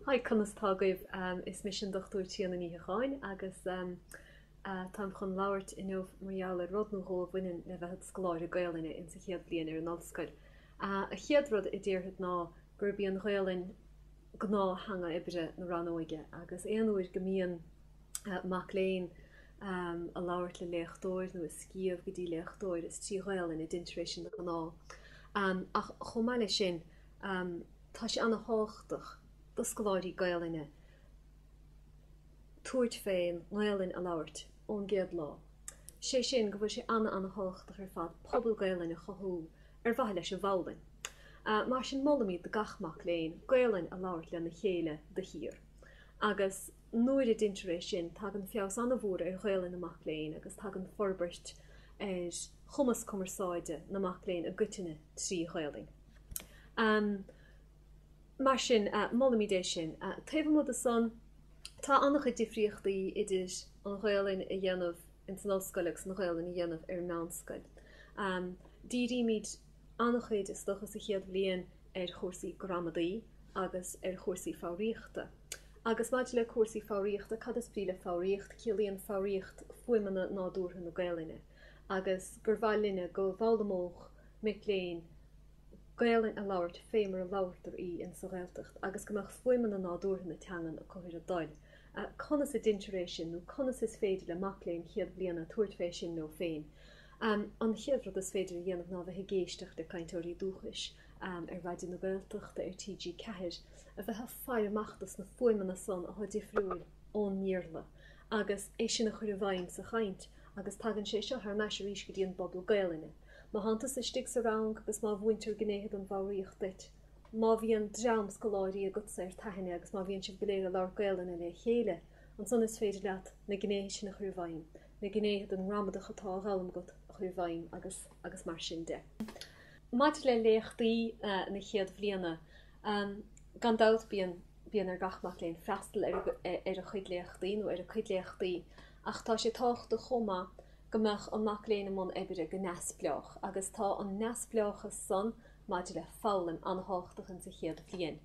Haigh, conas tá agaibh? Is mise an Dr. Tríona Ní Shíocháin agus táim chun labhairt inniu mar gheall ar rud nó dhó a bhaineann le bheith id scoláire Gaelainne insa chéad bhliain ar an ollscoil. An chéad rud a déarfad ná gurb í an Ghaelainn gnáth-theanga oibre na rannóige agus aon uair go mbíonn mac léinn ag labhairt le léachtóir nó ag scríobh go dtí léachtóir is trí Ghaelainn a deintear é sin de ghnáth. Ach chomh maith leis sin, Tá sé ana thábhachtach do scoláirí Gaelainne tabhairt fén nGaelainn a labhairt ón gcéad lá. Sé sin go bhfuil sé ana ana thábhachtach ar fad pobal Gaelainne a chothú ar mhaithe leis an bhfoghlainn. Mar sin molaimid do gach mac léinn Gaelainn a labhairt lena chéile de shíor. Agus nuair a deintear é sin tagann feabhas ana mhór ar Ghaelainn na mac léinn agus tagann forbairt ar chumas cumarsáide na mac léinn i gcoitinne trí Ghaelainn. Mar sin, molaimid é sin. Taobh amuigh de san, tá an-chuid difríochtaí idir an Ghaolainn a dhéanamh ins an ollscoil agus an Ghaolainn a dhéanamh ar an meánscoil. Dírímid an-chuid, is dócha, sa chéad bhliain ar chúrsaí gramadaí agus ar chúrsaí foghraíochta. Agus maidir le cúrsaí foghraíochta, cad is brí le foghraíocht? Ciallaíonn foghraíocht fuaimeanna nádúrtha na Gaolainne. Agus gur mhaith linne go bhfoghlaimeodh mic léinn Gaelainn a labhairt fé mar a labhartar í in sa Ghaeltacht agus go mbeadh fuaimeanna nádúrtha na teangan a chur ar a dtoil. Conas a deintear é sin nó conas is féidir le mac léinn chéad bhliana tabhairt fé sin leo féin? An chéad rud is féidir a dhéanamh ná bheith ag éisteacht le cainteoirí dúchais ar Raidió na Gaeltachta, ar TG Ceathair, a bheith a' faire amach dos na fuaimeanna san athá difriúil ón mBéarla agus é sin a chur i bhfeidhm sa chaint agus tagann sé seo thar n-ais arís go dtí an bpobal Gaelainne. Má thánn tusa istigh sa rang agus má mhúintear gnéithe den bhfoghraíocht duit, má bhíonn dream scoláirí agatsa ar t'aithne agus má bhíonn sibh go léir ag labhairt Gaelainne le chéile, ansan is féidir leat na gnéithe sin a chur i bhfeidhm, na gnéithe den ngramadach atá á fhoghlaim agat a chur i bhfeidhm agus mar sin de. Maidir le léachtaí na chéad bhliana, gan dabht bíonn ar gach mac léinn freastal ar a chuid léachtaí nó ar a cuid léachtaí ach tá sé tábhachtach chomh maith go mbeadh an mac léinn i mbun oibre go neamhspleách, agus tá an neamhspleáchas san maidir le foghlaim an-tábhachtach ins an chéad bhliain.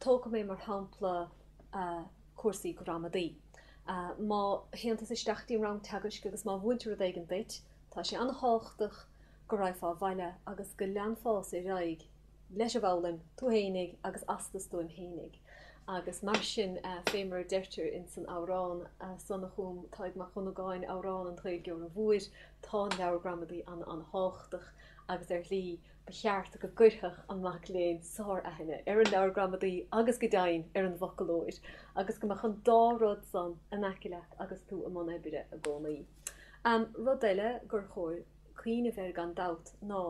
Tógfaidh mé mar shampla cúrsaí gramadaí. Má théann tusa isteach dtí'n rang teagaisc agus má mhúintear rud éigin duit, tá sé an-tábhachtach go raghfá abhaile agus go leanfása ar aghaidh, leis a bhfoghlaim tú fhéinig agus as do stuaim fhéinig. Agus mar sin fé mar a deirtear ins an amhrán san a chum Tadhg Mac Dhonnagáin, Amhrán an Ghaeilgeora Mhóir, tá an leabhar gramadaí an-an-thábhachtach agus ar shlí ba cheart go gcuirfeadh an mac léinn sár-aithne ar an leabhar gramadaí agus go deimhin ar an bhfoclóir agus go mbeadh an dá rud san in aice leat agus tú i mbun oibre i gcónaí. Rud eile gur chóir cuimhneamh air gan dabht ná,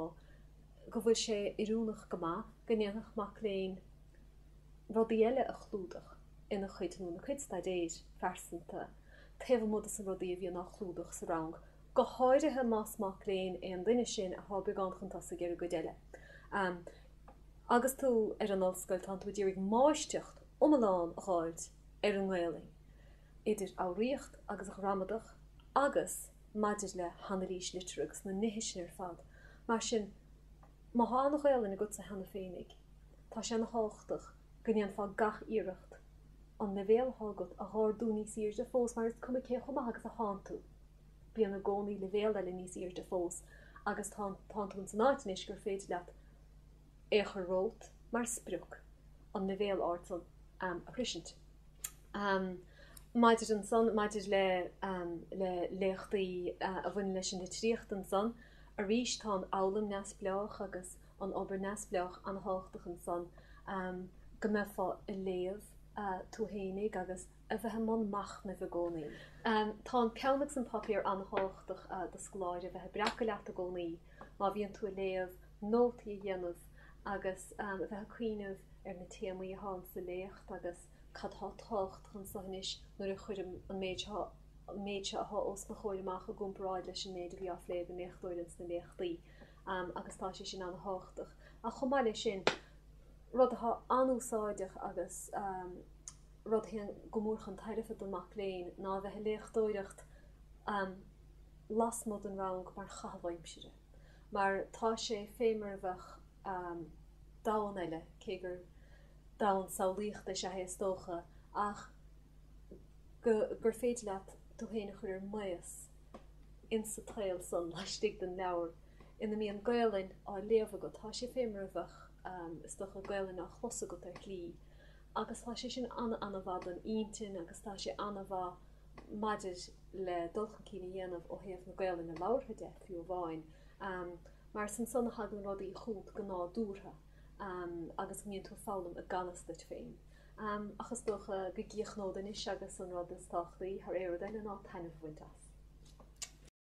go bhfuil sé oiriúnach go maith go ndéanfadh mac léinn rudaí eile a chlúdach ina chuid nó ina cuid staidéir phearsanta taobh amuigh des na rudaí a bhíonn á chlúdach sa rang, go háirithe más mac léinn é an duine sin atá beagán chun tosaigh ar an gcuid eile. Agus tú ar an ollscoil, tánn tú a d'iarraidh máistreacht iomlán a dh'fháilt ar an nGaelainn. idir fhoghraíocht agus ghramadach agus maidir le hanailís liteartha agus na nithe sin ar fad. Mar sin, má thá an-Ghaelainn agatsa cheana féinig, tá sé ana thábhachtach go ndéanfá gach iarracht an leibhéal atá agat a dh'ardú níos aoirde fós mar is cuma cé chomh maith agus a thánn tú, bíonn i gcónaí leibhéal eile níos aoirde fós agus tánn tú ins an áit anois gur féidir leat é a chur romhat mar sprioc, an leibhéal airde a shroisint. Maidir ansan, maidir le le léachtaí a bhaineann leis an litríocht ansan, arís tá an fhoghlaim neamhspleách agus an obair neamhspleách an-tábhachtach ansan, go mbeifeá a' léamh tú fhéinig agus a bheith i mbun machnaimh i gcónaí. Tá an peann agus an páipéar an-tábhachtach do scoláire, bheith a' breacadh leat i gcónaí. Má bhíonn tú a léamh, nótaí a dhéanamh agus a bheith ag cuimhneamh ar na téamaí atá ann sa léacht agus cad tá ag tocht chun solais anois nuair a chuirim an méid seo atá os mo chomhair amach i gcomparáid leis an méid a bhí á phlé ag an léachtóir ins na léachtaí agus tá sé sin an-thábhachtach. Ach chomh maith leis sin, rud atá an-úsáideach agus rud a théann go mór chun tairbhe don mac léinn ná a bheith a' léitheoireacht lasmuigh den rang mar chaitheamh aimsire mar tá sé fé mar a bheadh domhan eile, cé gur domhan samhlaíochta is ea é is dócha, ach gur féidir leat tú fhéin a chur ar maos in sa tsaol san laistigh den leabhar ina mbíonn Gaelainn á léamh agat. Tá sé fé mar a bheadh, is dócha, Gaelainn á chlos agat ar shlí agus tá sé sin ana-ana-mhaith don intinn agus tá sé ana-mhaith, maidir le dul chun cinn a dhéanamh ó thaobh na Gaolainne labhartha de, fiú amháin, mar is ansan a thagann rudaí chugat go nádúrtha agus go mbíonn tú ag foghlaim i ganfhios duit féin. Ach is dócha go gcíochnód anois agus an rud is tábhachtaí thar aon rud eile ná taitneamh a bhaint as.